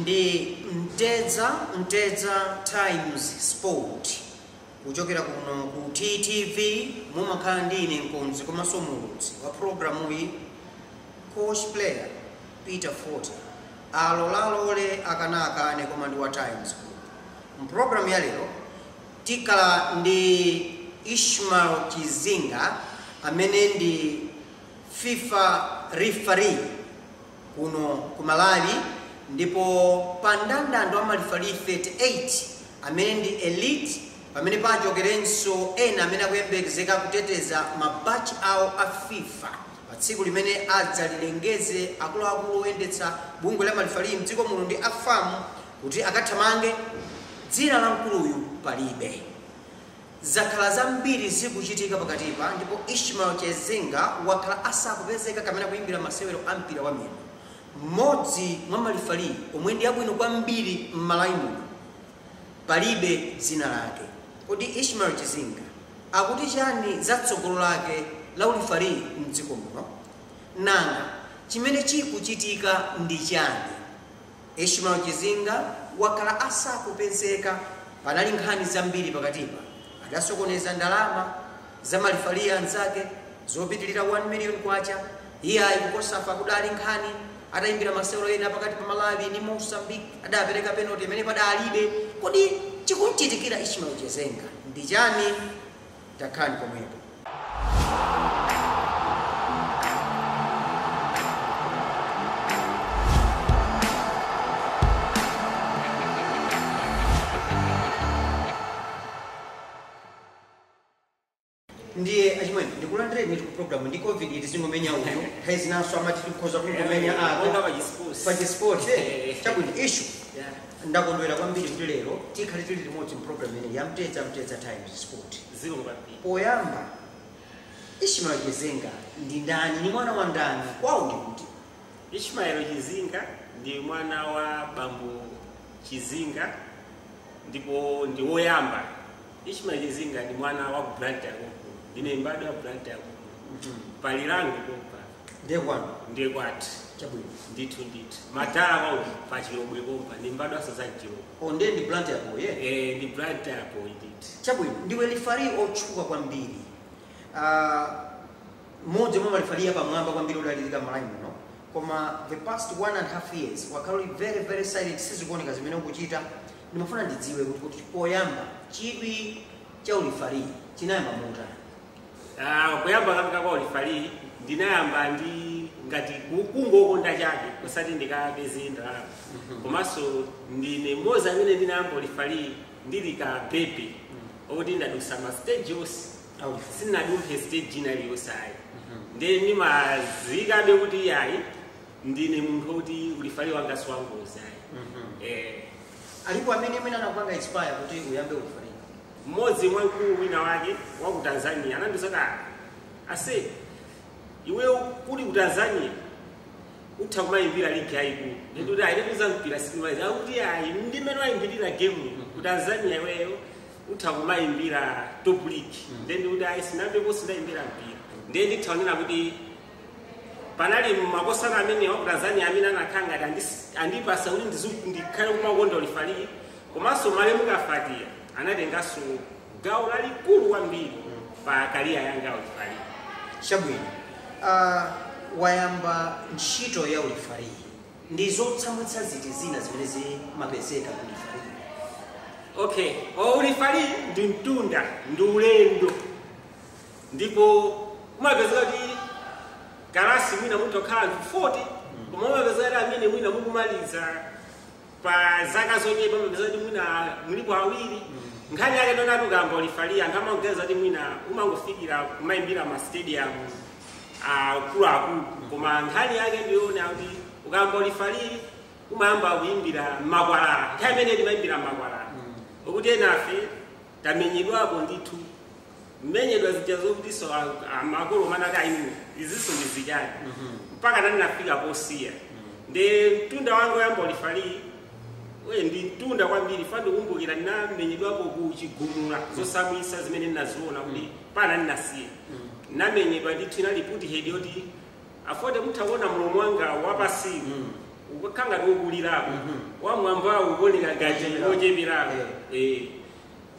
ndi mtedza mtedza times sport kuchokera kuno ku ttv mumakhala ndi ine mkonzi komanso muulutsi wa programuyi coach player peter fort alola alole akana akane koma ndi wa times group. Mu program ya lero tikhala ndi Ishmael Chizinga amene ndi fifa referee kuno ku Malawi ndipo pa ndandando wa malifali 38 amene ndi elite pamene pachokerenso ena amene akuyembekezeka kuteteza mabaji awo a fifa Pa tsiku limene adzalilengeze, akuluakulu oyendetsa bungwe la malifaliyi mdziko muno ndi a fam kuti akathamange, dzina la mkuluyu palibe. Zakhala zambiri zikuchitika pakatipa ndipo Ishmael Chizinga wakhala asakupezeka kapena kuyimbira masewero a mpira wa miyendo mmodzi mwa malifaliyi omwe ndi abwino kwambiri m'Malawi muno. Palibe dzina lake. Kodi Ishmael Chizinga akuti chani za tsogolo lake la u referee mdziko muno? Nanga chimene chikuchitika ndi chani? Ishmael Chizinga wakhala asakupezeka. Panali nkhani zambiri pakatipa. Adasokoneza ndalama. za malifali anzake zopitilira 1 million kwacha iyayi ku cosafa kudali nkhani atayimbira masewero ena pakati pa malawi ndi mozambique adapereka penalty imene padalibe kodi chikumchitikira ishmael chizinga ndi chani takhalani pomwepo Ndiye achimwene, ndikulandirenitu ku program ndi covid tizingomenya uyu nthawi zinanso amati tikhoza kungomenya Monga apa pachisports. pa chisport eh, chabwino issue Yeah. ndakondwera kwambiri kuti lero tikhale tili limodzi mprogram imeneyi ya mtedza mtedza times sport Zikomo kwambiri. poyamba ishmael chizinga ndi ndani ndi mwana wa ndani kwawo ndi kuti Ishmael Chizinga ndi mwana wa bambo Chizinga ndipo ndi woyamba Ishmael Chizinga ndi mwana wa ku Blantyre konkuno. Ndine mbadwa ya Blantyre konkuno. Pa Lirangwe pompa Ndiye kwanu. ndiye kwathu. Chabwino. Ndithu ndithu. Madala kwawo pa Chilobwe pompa ndi mbadwanso za Chilobwe. Oh, ndiye ndi Blantyre yako, yeah. Eh, ndi Blantyre apo ndithu. Chabwino. Ndiwe lifari otchuka kwambiri. Ah, mmodzi mwa malifari apamwamba kwambiri odalirika m'Malawi muno. Koma the past one and a half years wakhala uli very very silent sizikuoneka zimene ukuchita Ndimafuna ndidziwe ku- kuti poyamba chidwi cha ulifaliyi chinayamba motani? Ah, kuyamba kanga kwa ulifaliyi ndinayamba ndi ngati ku- kungokonda chabe kusati ndikapeze ndalama komanso ndine mmodzi amene ndinayamba ulifaliyi ndili ka bebe okuti ndadusa ma stage onse a ulifali. sinadumphe stage ina iliyonse ayi nde ndimazikabe kuti ayi ndine munthu woti ulifali wanga siwangozi ayi eh, alipo amene mwina anakupanga inspire kuti uyambe ulifali mmodzi mwa mkulu wina wake wa ku tanzania anandiuza kuti ase iweyo kuli ku tanzania utha kumayimbira ligi yayikulu ndikuti ayi ndikuza mpira sindimayi akuti ayi ndi mmene wayimbirira game ku tanzania iweyo utha kumayimbira top league nde ndikuti ayi sinambepo sindayimbira mpira nde ndithaonera kuti panali makosana amene wa ku tanzania amene anakhala ngati andis- andipasa kuti ndizu- ndikhale kumakonda ulifalii komanso malemu kafatia anatenganso gawo lalikulu kwambiri pa kariya yanga ulifalii chabwino uh, wayamba ntchito ya ulifalii ndi zotsamwitsa ziti zina zimene zimapezeka ku ulifalii okay ulifalii ndi mtunda ndi ulendo ndipo umapezeka kuti kalasi mwina mutha kukhala anthu 40 koma umapezeka kuti amene mwina mukumaliza pa zaka zochepa umapezeka kuti mwina mulipo awiri nkhani yake ndonati ukayamba ulifali anthu amaganiza kuti mwina umangofikira kumayimbira ma stadium akuluakulu koma nkhani yake ndiyona kuti ukayamba ulifaliri umayamba kuyimbira mmakwalala nthawi imene timayimbira mmakwalala okuti enafe tamenyedwapo ndithu kumenyedwa zija zokutiso makolo mpakana a inu izinso ndi zichani mpakana ndinafika posiya nde mtunda wanga oyamba ulifaliyi ndi mtunda kwambiri chifukwa ndikumbukira ndinamenyedwapo ku chigumula zosamwisa zimene ndinaziona kuti mpakana ndinasiya ndinamenyedwa ndithu inali puti hedi yoti afored mutha kuona mlomo wanga wapasiwu mm. ukakhala ngati wokulirapo mm -hmm. wamwambawu ukuoneka ngati wocheperapo yeah. eh.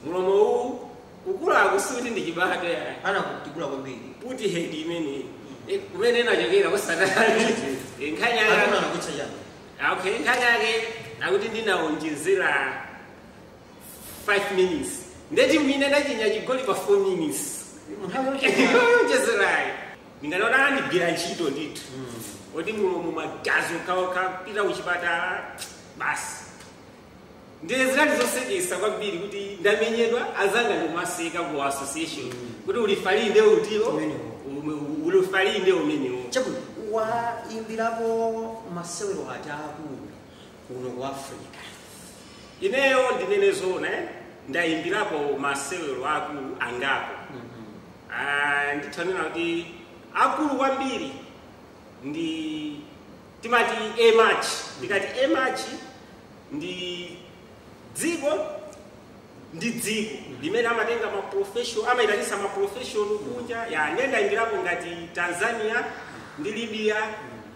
mlomo uwu kukulaku sikuti ndi chibadwa ayi ana kutikula kwambiri puti head imeneyi mm. eh, kumene inachokera kutsanali eh, nkhani yake anakucha chani ah, okay nkhani yake akuti ndinaonjezera 5 minutes ndeti mwine ndachinya chigoli pa 4 minutes munthawi yowonjezerayo ndinganene kuti anandigwira ntchito ndithu oti mulomo magazi okhaokha pita kuchipatala basi ndiye zinali zoseketsa kwambiri kuti ndamenyedwa azanga ndikumaseka ku association kuti ulifali nde ulimo Umenewo. ume- ulifali nde umenewo chabwino waimbirapo masewero ati akulu kuno ku africa ineyo ndinene zoona eh, ndayimbirapo masewero akulu angapo Ah, nditha kunena kuti akulu kwambiri ndi timati A-match ndikati A-match ndi dziko ndi dziko limene amatenga maprofession amayitanitsa maprofession kunja ya ndendayimbirapo ngati tanzania ndi libya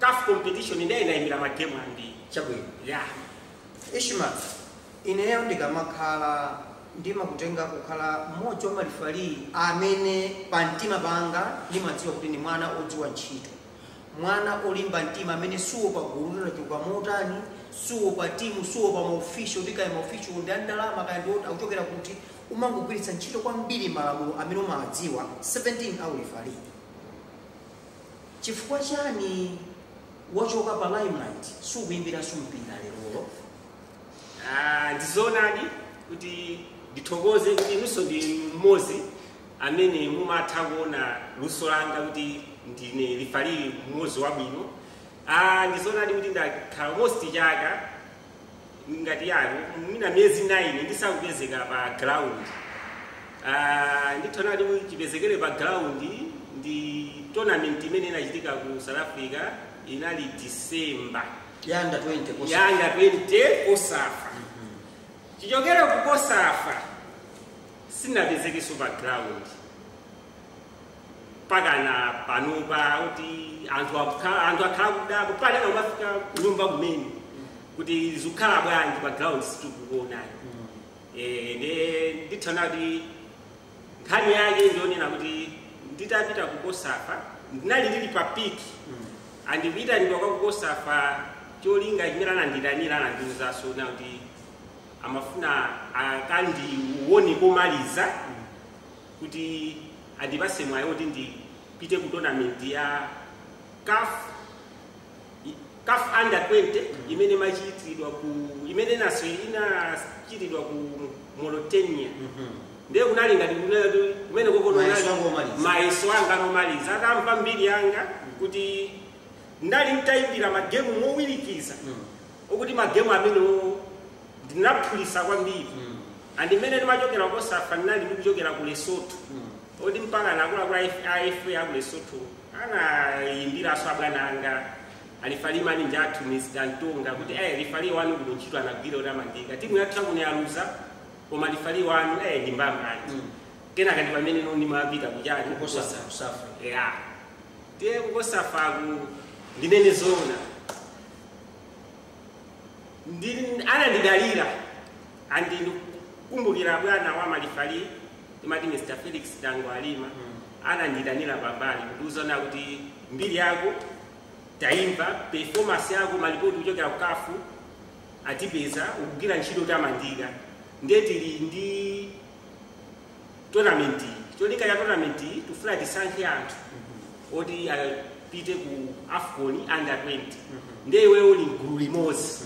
caf competition ndiye ndaimbira ma game ambiri chabwino yeah Ishmael ineyo ndikamakhala ndimakutenga kukhala mmodzi wa malifali amene pa mtima panga ndimadziwa kuti ndi mwana odziwa ntchito mwana olimba mtima amene suopa gulu lachuluka motani suopa timu suopa maofisho kuti kaya maofisho ndi andalama kaya ndi oti akuchokera kuti umangogwiritsa ntchito kwambiri malamulo amene umawadziwa 17 aulifali Chifukwa chani wachoka pa limelight sukuimbiranso mpira lerolo? Ah, ndizoonadi kuti ndithokoze kuti inunso ndi mmodzi amene mumatha kuona luso langa kuti ndine lifali mmodzi wabwino. Ah, ndizoonadi kuti ndakhala almost chaka ngati year no mwina miyezi 9 ndisakupezeka pa ground Ah, nditha kunena kuti chipezekere pa ground ndi tournament imene inachitika ku south africa inali december ya under 20 kosa. ya under 20 kosafa chichokere ku kosafa sindinapezekenso pa ground Pakana panopa kuti anthu akukhala anthu akhala akudabwa pali ena kumafika kunyumba kumene kuti zikukhala bwanji pa ground sitikukuonani eh nde nditha kunena kuti nkhani yake ndi yonena kuti nditapita ku kosafa ndinali ndili pa piki and kuyitanidwa kwa kukosafa cholinga chimene anandiitanira anandiuza zoona kuti amafuna akandione komaliza kuti andipase mwayi oti ndipite ku tournament ya CAF CAF under 20 imene imachitidwa ku imene naso inachitidwa ku Mauritania ndiye kunali ngati kunali kumeneko kunali mayeso anga omaliza atamva mbiri yanga kuti ndinali nditayimbira magemu mowirikiza okuti magemu amenewo Ndinaphulisa kwambiri and mene ndimachokera ku COSAFA ndinali ndikuchokera ku Lesotho oti mpakana akuluakulu a FA aku Lesotho anayimbiranso abwana anga a lifali mnzathu Mr. Ntonga kuti eh lifali wanu kuno ntchito anagwira yotamandika timu yathu yakuno yaluza koma lifali wanu eh ndi mbambande kenaka ndi pamene ano ndimapita kuchani ku COSAFA. yeah ndiye ku COSAFA ko ndinene zoona anandidalira and ndikukumbukira bwana wa malifali timati mr felix tangawarima ananditanira pambali kundiuza kuti mbiri yako taimva performance yako malipoti kuchokera ku CAF atipeza ukugwira ntchito yotamandika ndiye tili ndi tonamenti cholinga cha tonamentiyi tifuna tisankhe anthu oti apite ku afcon under 20 ndiye iweyo uli mgulu limodzi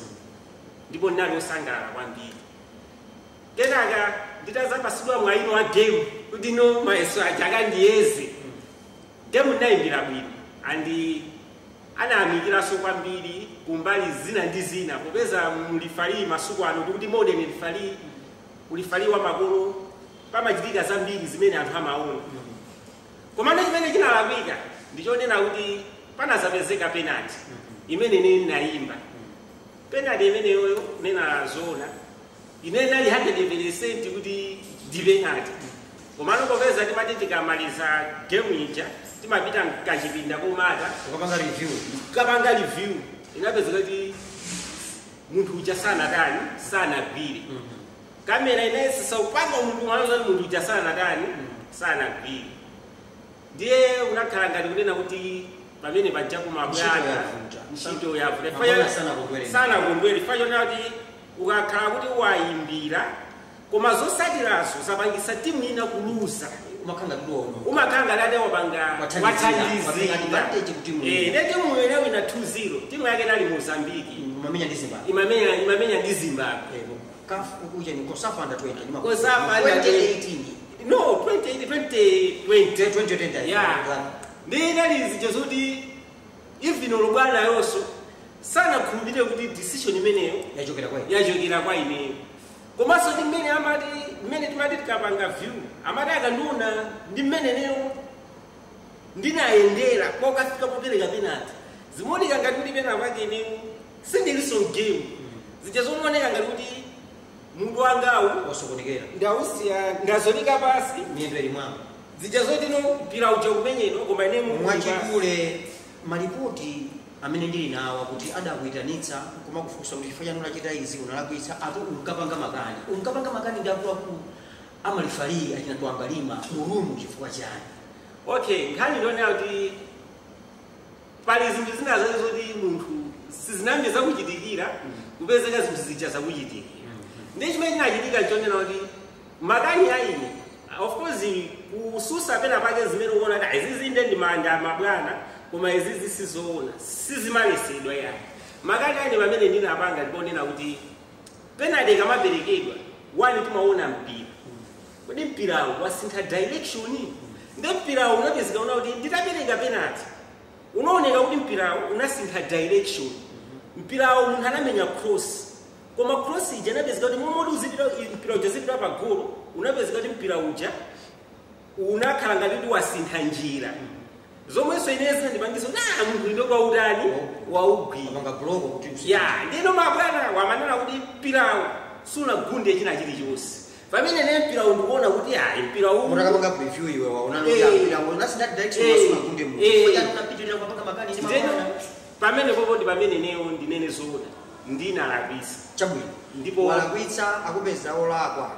ndipo ndinali osangalala kwambiri kenaka nditazapatsidwa mwayi wa game kuti ano mayeso aja akandiyeze game ndinayimbira bwino and anayamikiranso kwambiri kumbali zina ndi zina popeza ulifali masiku ano tikuti modern ulifali Ulifali wamakono, pamachitika zambiri zimene anthu amaona. Komano chimene chinalakwika ndi chonena kuti panadzapezeka penalty imene ine ndinayimba. Penalty imeneyoyo kunena zoona ine ndinali 100% kuti ndi penalty. Komano popeza timati tikamaliza game ija timapita mkachipinda kumakapanga review inapezeka kuti munthu uja sanatani sanagwire kamera inayesesa kupanga munthu mnzake kuti munthu uja sanatani sanagwire ndiye unakhala ngati kunena kuti pamene paja kwa mabwana ntchito yavuta sanakondwere chifukwa chonena kuti ukakhala kuti wayimbira koma zotsatira zake zapangisa timu ina kuluza umakhala kuti waona umakhala ngati wate wapanga Wathandizira, wathandizira. watenga advantage kuti mu- Eh, nde timu ina inawina 2-0 timu yake inali mozambiki imamenya ndi zimbabwe imamenya imamenya ndi zimbabwe Ebo, COSAFA ku kuja ndi COSAFA under 20 ndi ma COSAFA. COSAFA under 2018 no 20 20 20 2020 Yeah. nde inali zija zoti even olo bwanayonso sanakhulupirire kuti decision imeneyo yachokera kwa yachokera kwa ineyo komanso ndi mmene amati mmene timati tikapanga view amati akandiona ndi mmene ineyo ndinayendera kokafika popereka penalty zimaoneka ngati kuti pena pake ineyo sindilinso mgame zija zomaoneka ngati kuti mutu wangawu wasokonekera ndausiya ndazondoka pasi miyendo ili mwamba zija zoti mwina mpira uja kumenyedwa koma ine mutu uli pasi. mwachidule Malipoti amene ndili nawo kuti adakuitanitsa nkumakufunsa kuti chifukwa chani unachita izi, unalakwitsa apo unkapanga makani. Unkapanga makani ndi akuluakulu a malifaliyi achina Twambalima mu room chifukwa chani? Okay, nkhani ndi yonena kuti pali zinthu zina zake zoti munthu sizinayambe zakuchitikira kupezeka zinthu zija zakuchitikira. Ndiye chimene chinachitika nchonena kuti. Makani a ine of course kutsutsa pena pake zimene ukuona kuti izizi nde ndi maganizo a mabwana koma izizi sizoona sizimalesedwa ya makani a ine pamene ndinapanga ndi ponena kuti penalty ikamaperekedwa one timaona mpira kodi mpirawo wasintha direction nde mpirawo unapezeka kunena kuti nditapereka penalty Unaoneka kuti mpirawo unasintha direction. Mpirawo munthu anamenya cross. Koma cross ija inapezeka kuti mmalo moti uzipita i- mpira uja uzipita pa golo, unapezeka kuti mpira uja unakhala ngati kuti wasintha njira. Zomwenso ineyo zinandipangitsa kuti ah munthu ndo kwa utani waugwira. Apanga block kuti usi- ya ndiye mabwanawo amanena kuti mpirawo sunagunde china chilichonse pamene ine mpirawo ndikuona kuti ayi mpira uwu mutakapanga preview iwe waona Eh. kuti mpirawo unasintha direction Eh. sunagunde munthu Eh. ngoja unapitirira kupanga makani ndi Ndeno, mabwana pamene papo ndi pamene ineyo ndinene zoona ndinalakwitsa chabwino Ndipo- walakwitsa akupeza olakwa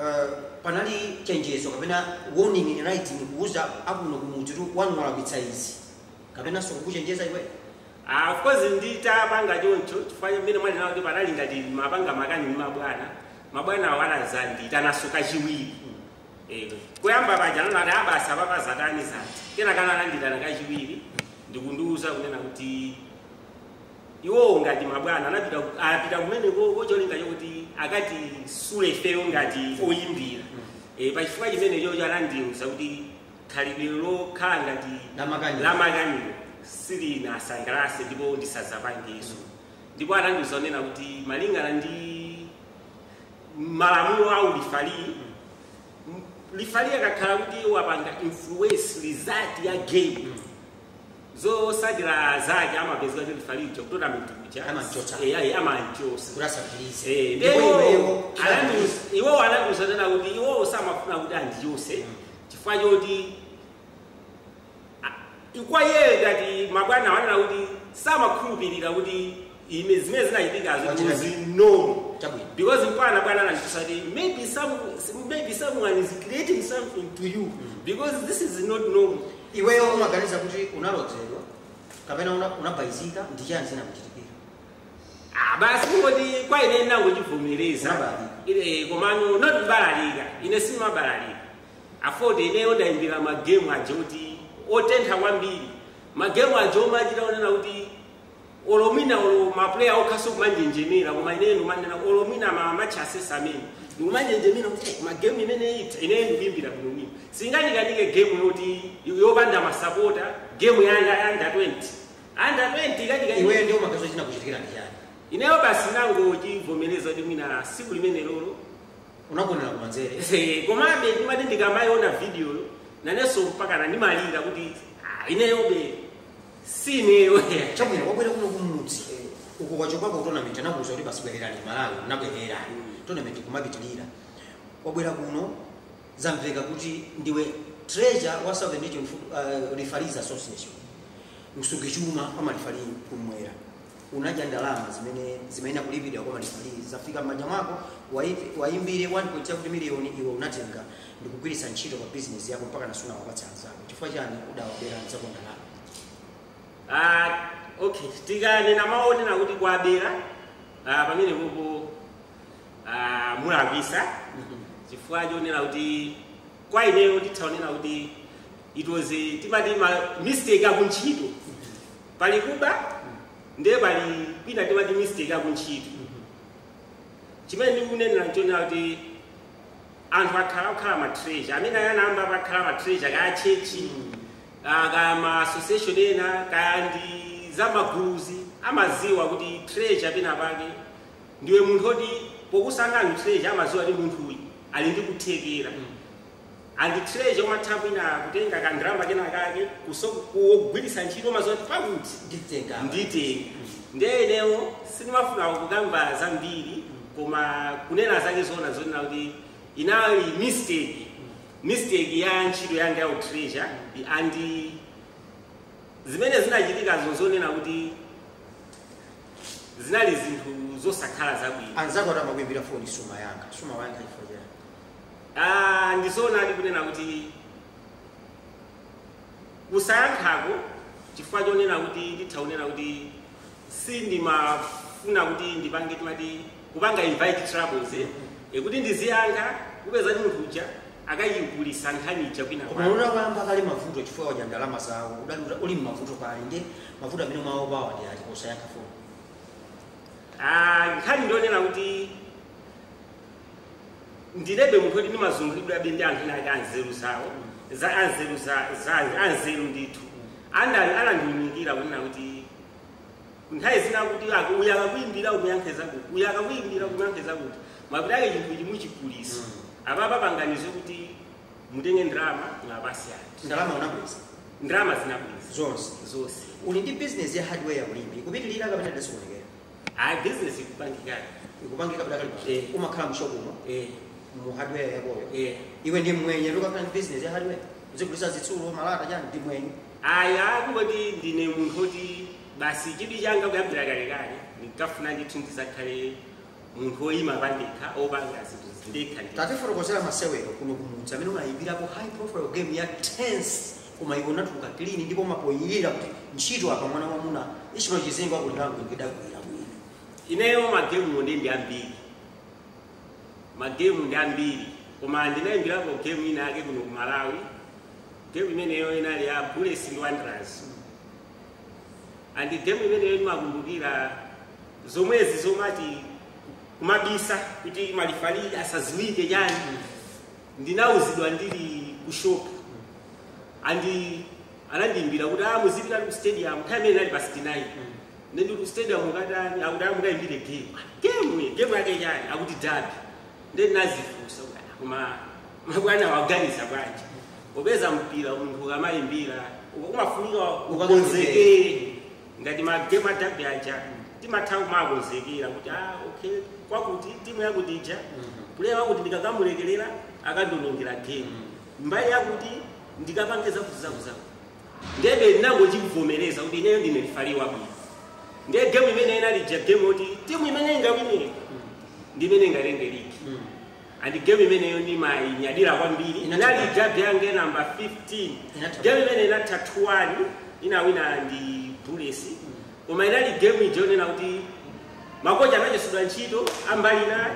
Eh, panali chenjezo kapena warning in writing kuuza akuno kuti munthu wanu walakwitsa izi kapenanso kukuchenjeza iwe Ah, of course nditapanga choncho chifukwa cha mmene mwauonera kuti panali ngati ndimapanga makani ndi mabwana mabwanawo anazandiitananso kachiwiri Eh, kuyamba paja ananati abatsa pazatani zati kenaka anandiitana kachiwiri ndikundiuza kunena kuti iwowo ngati mabwana anapita ku- apita kumene kuko cholinga chokuti akatisule ifeyo ngati oyimbira Eh, pa chifukwa chimene chocho anandiuza kuti Khalidwe lokhala ngati Lamakaniwo. lamakaniwo silinawasangalatse ndipo ndisadzapangenso. Ndipo anandiuza kunena kuti malingana ndi malamulo a ulifali, lifali akakhala kuti wapanga influence result ya game zosatira zake amapezeka kuti lifaliyo ku tournament kuja Amamchotsa. Eh, ayi, amamchotsa kuti asapitirize Eh, ndipo ndipo iweyo iwo anandiuza kunena kuti iwowo samafuna kuti andichotse chifukwa choti a- kwa iyeyo ngati mabwana wanena kuti samakhulupirira kuti ime zimene zinachitikazo Wachita kuti zinomo chabwino because mpakana bwana anandiuza kuti maybe some maybe someone is creating something to you because this is not normal iweyo umaganiza kuti unalodzedwa kapena una- unabayizika ndi chani zinakuchitikira Ah, basi kungoti kwa ine ndinangochivomereza Umabalalika. ine komano not kubalalika ine simabalalika afoti ineyo ndayimbira magemu aja kuti otentha kwambiri magemu aja omachita onena kuti olo mwina olo mapuleya okhaso kumanjenjemera koma ineyo ndikumanena olo mwina ma match assessor amene ndikumanjenjemera kuti "Eh, magemu imene itha ineyo ndikuyimbira bwino bwino singandikanike gemu yoti yopanda masapota gemu ya Under 20 Under 20 kati ka iweyo ndiye umaganiza chinakuchitikira ndi chani ineyo basi nangochivomereza kuti mwina siku limenelolo unagonera kumanzere Eh, komabe ndimati ndikamayiona vidiyoyo nanenso mpakana ndimalira kuti "Ah, ineyobe si ineyo chabwino wabwera kuno kumudzi uko kwachopako tournament anakuuza kuti basi bwererani ku Malawi unabwerera tournament kumapitirira wabwera kuno Zamveka kuti ndiwe treasure wa Southern Region Foot- uh, Referees Association, msungichuma wa malifali kumwera. Unadya ndalama zimene zimayenera kulipidwa kwa malifali zafika m'manja mwako, waipi- waimbire 1.7 miliyoni iwe unatenga ndikugwiritsa ntchito pa bizinesi yako mpakana sunawapatse anzako. Chifukwa chani udawabera anzako ndalama? Ah, okay tikanena mawu onena kuti kuwabera ah, pamenepo Ah, mulakwisa chifukwa chonena kuti kwa ineyo nditha kunena kuti it was a- timati ma mistake akuntchito pali kuba ndiye pali kwina timati mistake akuntchito chimene ndikunenera nchonena kuti anthu akhala kukhala matreasure amene anayambapo akhala matreasure kaya chechi ah, kaya ma association ena kaya ndi zamaguluzi amaziwa kuti treasure pena pake ndiwe munthu oti pokusankha utreasure amaziwa kuti munthuyi ali ndi kuthekera and treasure umatha mwina kutenga ka ndalama kena kake kuso kugwiritsa ntchito umaziwa kuti pakuti Nditenga apa. nditenga ndiye inewo sindimafuna kukamba zambiri koma kunena zake zoona zonena kuti inali mistake mistake ya ntchito yanga ya utreasure and zimene zinachitika nzonena kuti zinali zinthu zosakhala zabwino anzako ati amakuimbira foni sumayankha sumawayankha chifukwa chani Ah, ndizoonadi kunena kuti kusayankhako chifukwa chonena kuti nditha kunena kuti sindimafuna kuti ndipange timati kupanga invite troubles eh? e kuti ndiziyankha kupeza kuti munthu uja akayigulisa nkhani ija kwina koma kwake. unayamba kale mavuto chifukwa wadya ndalama zawo udali uta- uli mmavuto pali ndi mavuto amene mwaopawa ndi ati kusayankha foni Ah, nkhani ndionena kuti ndilebe munthu oti ndimazungulidwabe ndi anthu enake anzeru zawo za anzeru za- za- anzeru ndithu amene anandiunikira kunena kuti nthawi zina kuti aka- uyu akakuyimbira umuyankhe zakuti uyu akakuyimbira umuyankhe zakuti mapeto ake chinthu ichi muchigulitsa apapa panganani zoti mutenge ndalama mwapasi ati ndalama unabweza ndalama zinabweza zonse zonse uli ndi business ya hardware ya ulimi kupitilira kapena ndalama sizikuonekera ayi bizinesi ikupangikana ikupangika kapita kali Eh. umakhala mshopumo eh mu hardware yakoyo eh iwe ndi mwenye yekha akhala ndi business ya hardware uzigulisa zitsulo malata chani ndi mwenye Ayi, a kungoti ndine munthu woti basi chidwi changa kuyambira kalekale ndinkafuna ndithu ndidzakhale munthu woyima pandekha wopanga zinthu ndekha ndekha. Tatifotokozera masewero kuno kumudzi amene unayimbirapo high profile game ya tense koma iwe unatuluka clean ndipo umaponyerera kuti ntchito apa mwana wamuna Ishmael Chizingo akulira kuti ndidagwira bwino. Ineyo magemu ndi ndi ambiri magemu ndi ambiri koma ndinayimbirapo game ina yake kuno ku Malawi game imeneyo inali ya bullets ndi wanderers and game imeneyo ndimakumbukira zomwezi zomati kumabisa kuti malifari asaziwike chani ndinauzidwa ndili ku shop and anandiimbira kuti ah muzipita ku stadium time imene inali pa 69 ndiye ku stadium ukatani akuti ah mukaimbire game game game yake chani akuti derby ndiye ndinazifunsa kuti, ah, koma mabwana waganiza bwanji popeza mpira munthu ukamayimbira uko kumafunika ukonzekere ngati magemu a derby aja timatha kumakonzekera kuti ah, okay kwakuti timu yakuti ija puleya wakuti ndikakamulekelera akandonongera gemu mbali yakuti ndikapange zakuzakuzaku ndebe ndinangochivomereza kuti ineyo ndine lifari wabwino ndiye gemu imene inali ija gemu yoti timu imene ingawine ndi imene ingatenge ligi and game imeneyo ndimainyadira kwambiri Inatha inali bwanji? derby yanga namba 15 Inatha game imene inatha 2-1 inawina ndi bullets koma inali game ija yonena kuti makocha anachotsedwa ntchito ambali inayo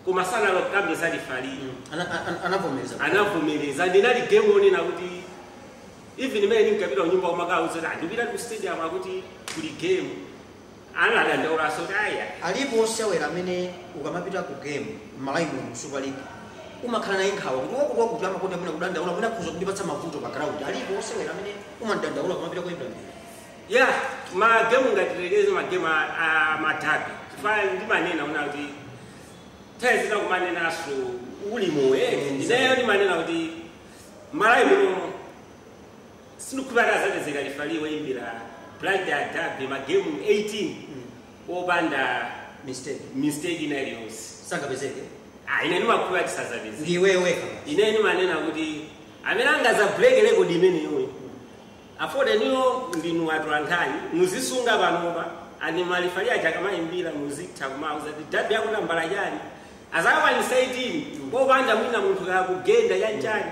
koma sanakambe za lifari Ana- ana- anavomereza anavomereza ndi inali game yonena kuti even imene ndinkapita kunyumba kumakauza kuti ah ndipita ku stadium akuti kuli game Ana adandaulanso kuti ayi ayi. Alipo osewera amene ukamapita ku game m'Malawi muno mu Super League umakhala naye nkhawa kuti wakuti wakuti amakonda mwina kudandaula mwina akhoza kundipatsa mavuto pa ground. Alipo osewera amene umamdandaula ukamapita koyimbira mpira? Yeah, ma game ngati tiyerekeze ma game a, a madabi. Chifukwa ndimanena nkuti ndidzinena kumanenaso uli moyo. Ineyo ndimanena kuti Malawi muno sindikukhulupirira kuti azapezeka lifali woyimbira Blantyre Derby magemu 18 opanda mistake mistake ina iliyonse sazapezeka ah ine ndimakhulupirira kuti sazapezeka ndiwe weka ine ndimanena kuti amene angazabuleke rekodi imeneyoyo after ineyo ndinu atolankhani muzisunga panopa and malifali aja akamayimbira muzitha kumauza kuti dabi yako nambala chani azakwanisa 18 popanda mwina munthu kakugenda chanchani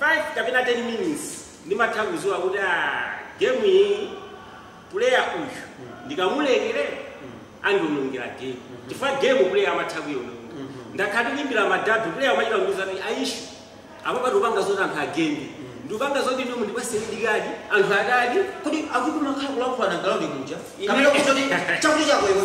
5 kapena 10 mins ndimatha kuziwa kuti a gemu iyi puleya uyu ndikamulekere andionongera gemu chifukwa gemu puleya amatha kuiononga ndakhala ndi kuimbira madabi puleya umachita kundiuza kuti aishu apo apatu ukupanga zoti anthu agende ndikupanga zoti inu mundipase red card anthu adati kodi akuti makhala kulankhulana ground muja Ine- kapena kuti chakuti chako iwe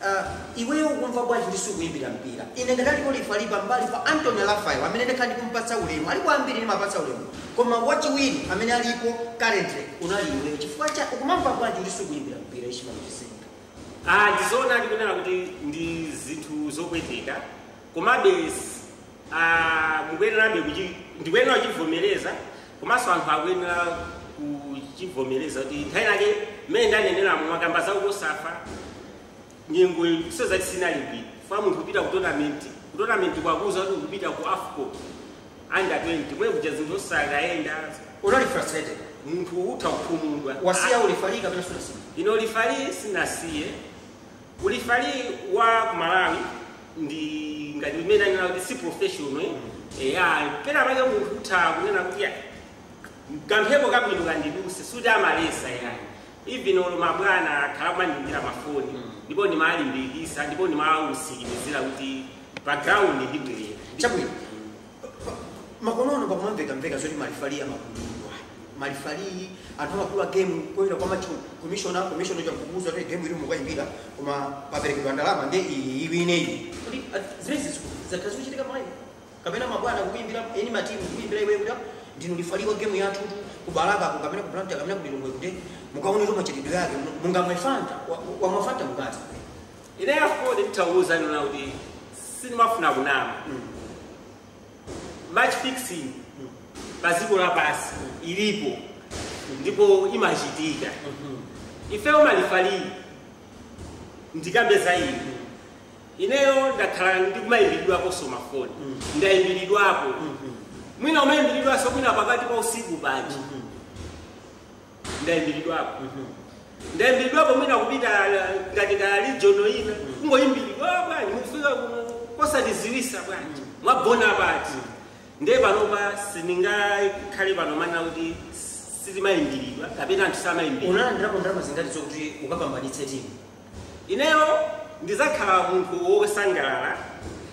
Uh iweyo ukumva bwanji kuti sukuimbira mpira? Ine ngati alipo lifali pambali pa Anthony Raphael amene ndikhala ndikumpatsa ulemu, alipo ambiri ndimapatsa ulemu koma wachiwiri amene alipo currently unali iweyo chifukwa cha ukumamva bwanji kuti sukuimbira mpira Ishmael Chizinga? Ah, ndi zoonadi kunena kuti ndi zinthu zopweteka. komabe izi ah, mukuyenerabe kuchi- ndikuyenera kuchivomereza komanso anthu akuyenera kuchivomereza kuti nthawi yake mmene ndanenera mwakamba za COSAFA nyengo sizati sinali bwino fa munthu kupita ku tournament ku tournament kwakuza kuti kupita ku AFCON under 20 mwe kuja zinthu osakayenda unali frustrated munthu utha kukhumudwa wasiya ulifali kapena sunasiya ine ulifali sinasiye ulifali wa ku malawi ndi ngati mmene anena kuti si professional eh, ya pena pake munthu utha kunena kuti ya kamphepo kabwino kandiduse suti amalesa ayi even olo mabwana akhala kumandimbira mafoni ndipo amandilimbikisa ndipo ndimawusikimizira kuti pa ground ndibwerera chabwino makonono pakumamvekamveka zoti malifali amagulidwa malifali anthu amagula game kudzera kwa match commissioner commissioner chakukuza kuti game iyi mukayimbira koma paperekedwa ndalama ndi iyi iwine iyi kuti ah, zimezi zakhala zikuchitika mwayi kapena mabwana kukuyimbira eni matimu kukuyimbira iwe kuti ah, ndinu lifali wa game yathu tu ku Balaka ku kapena ku Blantyre kapena ku Lilongwe kuti mukaonetu machitidwe yake mungamwe fanta wa- wa- wamwa fanta mukati Ineyo a Ford nditha kuuza inu nonena kuti sindimafuna kunama. Match fixing pa dziko lapansi ilipo ndipo imachitika. Ifeyo malifali ndikambe za ine. Ineyo ndakhala ndikumayimbilidwaponso mafoni. Ndayimbilidwapo. Mwina umayimbilidwanso mwina pakati pa usiku paja. ndaimbilidwapo ndaimbilidwapo mwina kupita ngati ka region ina kungoimbilidwa "Ah, bwanji mukufika kuno osatiziwisa bwanji mwagona pati ndiye panopa sindingakhale pano kumanena kuti sitimaimbilidwa kapena anthu samaimbilidwa unalandirapo ndalama zingati zokuti ukapambanitse timu Ineyo ndizakhala munthu wosangalala,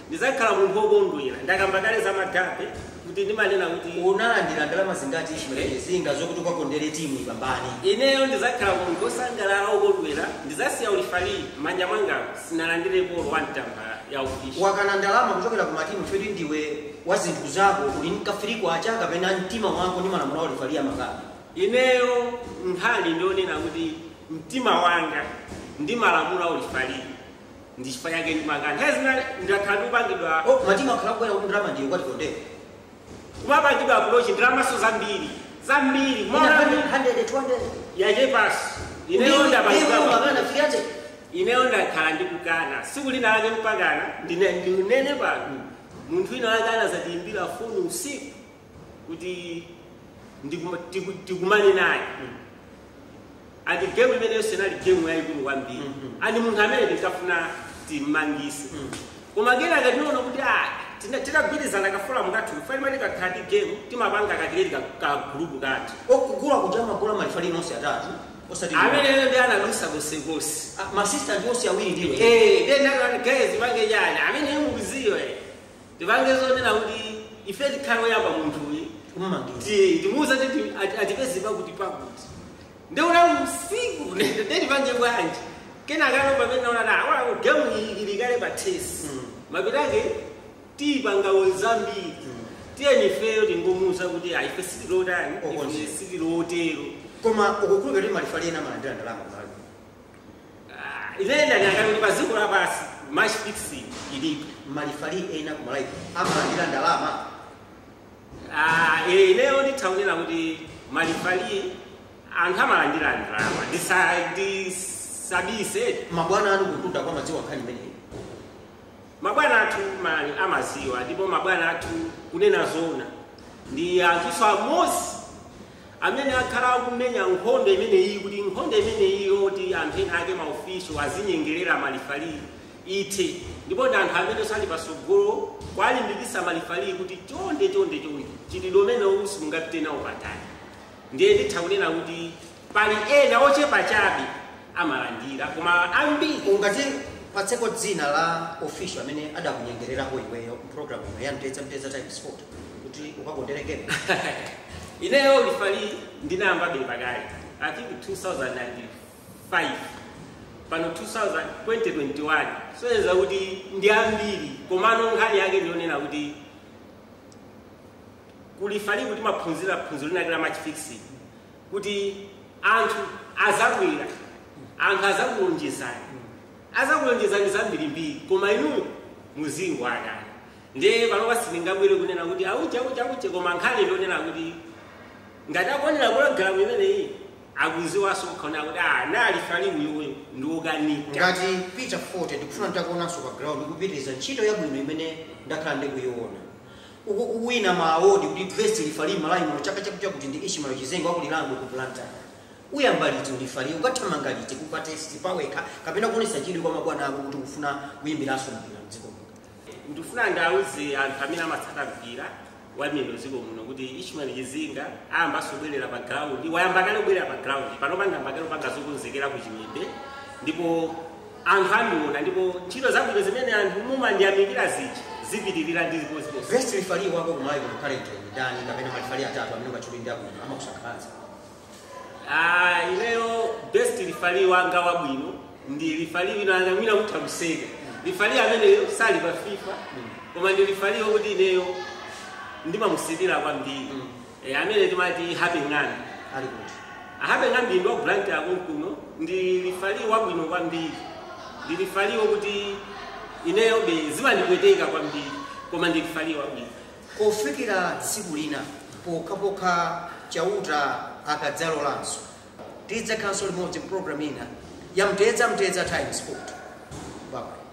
ndizakhala munthu wokondwera. Ndakamba kale zamakape kuti ndimanena kuti. Unalandira ndalama zingati Ishmael Chizinga zokuti ukakondere timu ipambane? Ineyo ndizakhala munthu wosangalala, wokondwera, ndizasiya ulifali, m'manja mwangamu sindinalandirepo olo one tambala ya ufish. Wakana ndalama kuchokera ku matimu chifukwa choti ndiwe wa zinthu zako, uli ndi ka 3 kwacha kapena mtima wako ndi malamulo a ulifali amakapa. Ineyo nkhani ndi yonena kuti mtima wanga ndi malamulo a ulifali ndi chifukwa chake ndimakana nthawi zina ndakhala ndikupangidwa Oh, matimu akhala kubwera kuti ndalama ndiyo kwati kondera. kumapangidwa approach ndalamaso zambiri zambiri Ina more than 100, 100, 200. yachepaso ineyo Ndiyo, ndiyo, ndapangidwa magana fikiranze. ineyo ndakhala ndikukana siku lina lake mpakana ndine- ndinene pano munthu wina wake anazatiimbira foni usiku kuti ndiku- tiku- tikumane naye ati gemu imeneyo sinali gemu yayikulu kwambiri Mhm. ati munthu amene tinkafuna timmangise Mm. koma kena titaona kuti ah, tina- tinagwirizana ka forum kathu chifukwa ife tikakhala ndi gemu timapanga ka- tiyeni ka- ka gulupu kathu okugula kuja magulu a malifali nonse atatu osati ameneyo ndi analusa konsekonse ma assistant onse awiri ndiwe Eh, then that one guys tipange chani. I mean him with zero. eh. Tipange zonena kuti ife tikhale oyamba munthuyi Kumumangisa. ti- timuuze kuti ti- ati- atipeze pakuti pakuti nde unali usiku nde nde tipange bwanji kenakano pamene tinaona ah gemu ili kale pa tesi Mm. mapeto ake tizipanganso zambiri tiyeni ifeyo tingomuuza kuti ayi ife sitili otani Okonzeka. ife sitili otero koma ukukhulupirira kuti malifali ena amalandira ndalama kumalawi Ah, ine ndanena kuti pa dziko lapansi match fixing ilipo malifali ena ku malawi amalandira ndalama Ah, eh, ineyo nditha kunena kuti malifali anthu amalandira ndalama Ndisa- ndisabise mabwana anga kumtunda kwao amadziwa nkhani imeneyi Mabwana athu amaziwa ndipo mabwana athu kunena zoona ndi anthuso amozi amene akhala akumenya nkhondo imeneyi kuti nkhondo imeneyi yoti anthu ena ake maofiso azinyengelera malifalii ithe ndipo ndi anthu amene sali pasogolo kwalimbikisa malifalii kuti chonde chonde chonde chitidwe umene uwu simungapite nawo patali. Ndiye nditha kunena kuti pali ena ochepa chabe amalandira koma ambiri. Ungatipatseko dzina la official amene adakunyengererapo iweyo program ya Mtedza Mtedza Times Sport kuti ukakonderekere? Ineyo ulifali ndinayamba be pakale I think 2005 pano 2021 soyeza kuti ndi ambiri komano nkhani yake ndionena kuti Ku Lifaliku timaphunzira phunziro lina lake la match fixing kuti anthu azabwera, anthu azakulonjezani, azakulonjezani zambirimbiri, koma inu muzingowakana. Ndiye panopa sindingabwere kunena kuti auche auche auche, koma nkhani ndionena kuti ngati akuonera pologalamu imeneyi akuziwanso okha kuti ah, nali lifali uyu ndi wokanika. ngati Peter Fote ndikufuna nditakuonanso pa ground kupitiriza ntchito yabwino imene ndakhala ndikuyiona Ukuwina ma award kuti best lifali m'Malawi muno chaka chakuti ndi Ishmael Chizinga wa ku Lirangwe ku Blantyre. Uyamba liti u lifaliyo? Ukathamanga liti Cooper test pawekha kapena kuonetsa chidwi kwa mabwana ako kuti ukufuna kuyimbiranso mpira m'dziko muno? Ndikufuna ndiauze anthu amene amatsata mpira wa miyendo m'dziko muno kuti Ishmael Chizinga ayambanso kubwerera pa ground. Wayamba kale kubwerera pa ground. Panopa ndayamba kale kupanga zokonzekera ku Chiwembe ndipo anthu andiona ndipo ntchito zabwino zimene anthu mumandiyamikira zija zipitirira ndipo. Best referee wako ku Malawi kuno currently ndi ndani kapena marefali atatu amene ungatchule ndi abwino amakusangalatsa? Ah, ineyo best referee wanga wabwino ndi referee wina ena mwina kutha kuseka. Referee ameneyo sali pa FIFA koma ndi referee wokuti ineyo ndimamusilira kwambiri. e, amene timati Happy Ng'ambi ali kuti Happy Ng'ambi ndi wa ku Blantyre konkuno ndi lifali wabwino kwambiri ndi lifali wokuti ineyo be zimandipweteka kwambiri koma ndi lifali wabwino kufikira tsiku lina pokhapokha chauta akadzalolanso tidzakhalanso limodzi program ina ya mtedza mtedza Times Sport bye